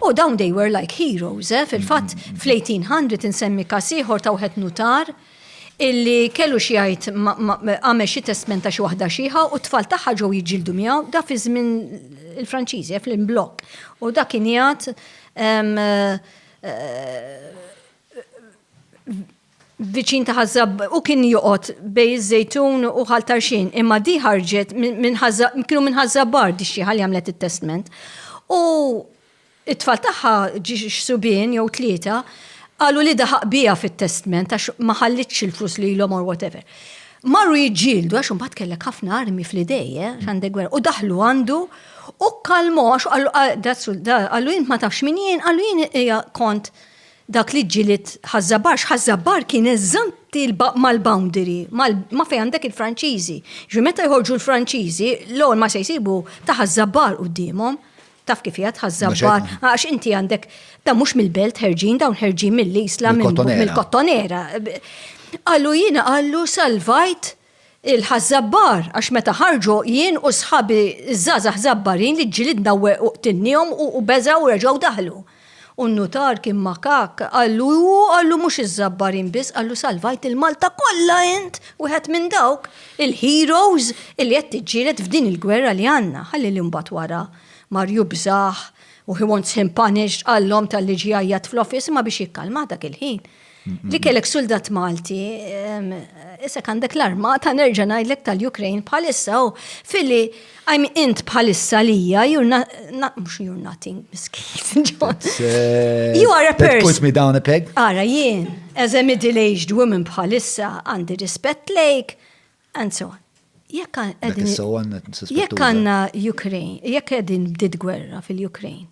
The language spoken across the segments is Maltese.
U dawn they were like heroes, eh? fil-fatt mm-hmm. fl-1800 insemmi kas ieħor ta' wieħed nutar illi kellu xi jgħid għamel xi testment ta' xi waħda xieħa u t-tfal tagħha ġew jiġġieldu miegħu da fi żmien il-Franċiżi eh, fl-imblok. U da kien jgħid eh, viċin ta' Ħaż Żab, u kien joqgħod bejn iż-Żejtun u Ħal Tarxien, imma di ħarġet minn Ħaż kienu minn Ħaż Żabbar di xieħa li għamlet it-testment. U it-tfal tagħha ġi xsubien jew tlieta qalu li daħaq biha fit-testment għax ma ħallitx il-flus lilhom or whatever. Marru jiġġieldu għax imbagħad kellek ħafna armi fl-idej, eh, għandek gwerra. U daħlu għandu u kalmu għax qallu int ma tafx min jien, qallu jien kont Dak li ġġieled Ħaż-Żabbar, x'Ħaż-Żabbar kien eżanti mal-boundary, ma' fejn għandek il-Franċiżi. Ġifieri meta jħorġu l-Franċiżi, l-għol ma se jsibu ta' Ħaż-Żabbar quddiemhom. Taf kif hija t'Ħaż-Żabbar, għax inti għandek, dawn mhux mill-belt ħerġin, dawn ħerġin mill-Isla, mill-Kottonera. Qallu jiena qallu salvajt Il-Ħaż-Żabbar, għax meta ħarġu jien u sħabi ż-żgħażagħ Żabbarin li ġġilidna weqgħu qtilniehom u beżgħu u reġgħu daħlu. U n-nutar kien makakk, qallu, hu qallu mhux iż-Żabbarin biss, qallu salvajt lil Malta kollha int, wieħed minn dawk il-heroes illi qed tiġġieled f'din il-gwerra li għandna. Ħalli li mbagħad wara mar jubżgħ u he wants him punished, qalhom talli ġie jgħajjat fl-office, imma biex jikkalmah dak il-ħin, Li kellek suldat Malti, issa għandek l-armata nerġa' ngħidlek tal-Ukraine bħalissa u fili I'm int bħalissa lija, you're not, mux you're nothing, miskin, eh, You are a person. Put me down a peg. Ara, jien, as a middle-aged woman bħalissa, għandi rispett lejk, Anzo, jekk jekk għandna Ukraine, jekk qegħdin bdiet gwerra fil-Ukraine,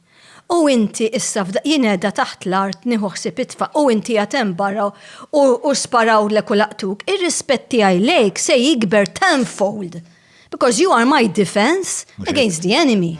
u inti issa jien qiegħda taħt l-art nieħu ħsieb itfa' u inti għad hemm barra u sparaw lek u laqtuk, ir-rispett tiegħi lejk se jikber tenfold because you are my defense against the enemy.